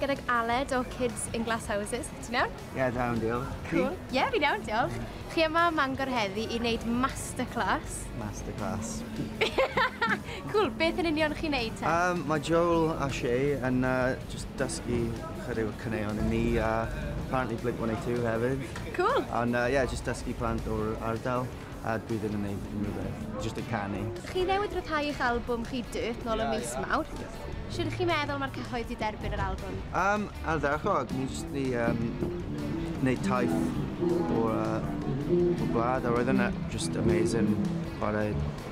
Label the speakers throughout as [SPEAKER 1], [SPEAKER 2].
[SPEAKER 1] gydag Aled o Kids in Glass Houses. Ti'n iawn? Ie, yeah, da iawn, diolch.
[SPEAKER 2] Cool. Ie, yeah, fi'n iawn,
[SPEAKER 1] diolch. Chi yma ym Mangor heddi i wneud masterclass. Masterclass. cool, beth yn union chi'n neud te? Um, mae Joel a
[SPEAKER 2] Shay yn uh, just dysgu Chwarae'r caneuon i ni a apparently Blink 182 hefyd. Cool! Ond uh, yeah,
[SPEAKER 1] just dysgu
[SPEAKER 2] plant o'r ardal a dwi ddim yn neud unrhyw beth, just y canu. Chi newid rhyddhau
[SPEAKER 1] eich album chi Dirt nôl yeah, ym mis yeah. mawr. Yeah. Sut chi'n meddwl mae'r cyhoedd wedi derbyn yr album? Um, ardderchog,
[SPEAKER 2] ni jyst wedi um, neud taith o'r uh, blad a roedd yna just amazing chwarae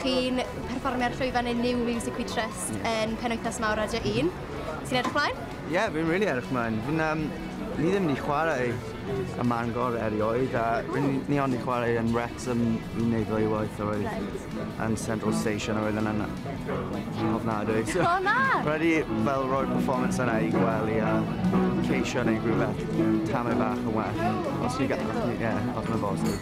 [SPEAKER 1] chi'n perfformio ar llwyfan y New Music We Trust yeah. yn penwythnos mawr Radio 1. Ti'n edrych mlaen? Ie, yeah, fi'n really edrych
[SPEAKER 2] mlaen. Fi'n, um, ni ddim ni chwarae y Mangor erioed, a fi'n ni ond ni chwarae yn Wrexham i wneud ddwy waith a roedd right. yn Central Station a roedd yn yna. Ofnadwy. So, oh, na!
[SPEAKER 1] Rhaid i fel
[SPEAKER 2] roi'r performance yna i gwely a ceisio neu rhywbeth tamau bach yn well. Os fi gael, ie, yeah, os mae'n bosib.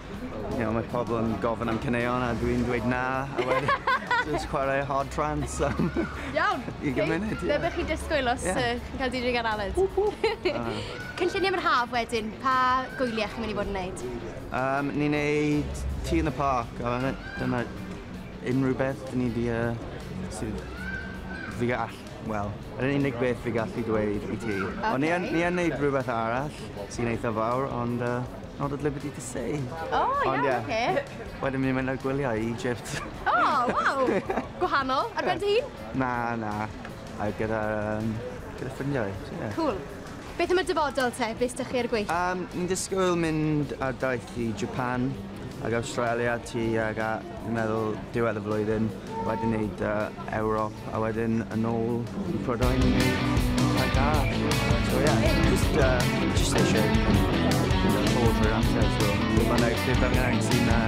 [SPEAKER 2] you know, mae pobl yn gofyn am caneuon a dwi'n dweud na, a wedyn just chwarae hard trance am Iawn, i
[SPEAKER 1] gymuned. Okay. Be
[SPEAKER 2] bych chi disgwyl os
[SPEAKER 1] yeah. uh, chi'n cael DJ gan Aled? Cynlluniau mae'r haf wedyn, pa gwyliau chi'n mynd i fod yn neud? Um, ni'n
[SPEAKER 2] neud Tea in the Park, a dyna unrhyw beth dyn ni di, uh, sydd fi all Wel, yr unig beth fi gallu dweud i ti. Okay. Ond ni yn, ni yn neud rhywbeth arall sy'n eitha fawr, ond uh, not at liberty to say. O, oh, iawn, yeah. okay. Wedyn mi'n mynd ar gwyliau i Egypt. O, oh, waw!
[SPEAKER 1] Gwahanol, ar ben dy hun? Na, na.
[SPEAKER 2] A gyda, um, gyda ffrindiau, yeah. Cool.
[SPEAKER 1] Beth am y dyfodol te, be sdych chi ar y gweill? Um, ni'n disgwyl
[SPEAKER 2] mynd ar daith i Japan ac Australia ti ag a fi'n meddwl diwedd y flwyddyn, wedyn neud uh, Ewrop a wedyn yn ôl i Prydain i neud a da. So yeah, just, uh, just eisiau bod rwy'n amser, so dim ond eich sydd angen sy'n uh,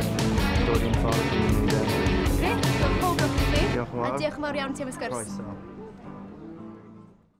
[SPEAKER 2] dod i'n
[SPEAKER 1] ffordd
[SPEAKER 2] i'n
[SPEAKER 1] neud
[SPEAKER 2] e.
[SPEAKER 1] Grêt, diolch yn fawr.
[SPEAKER 2] Diolch
[SPEAKER 1] yn fawr
[SPEAKER 2] iawn ti am
[SPEAKER 1] y sgwrs.
[SPEAKER 2] Croeso.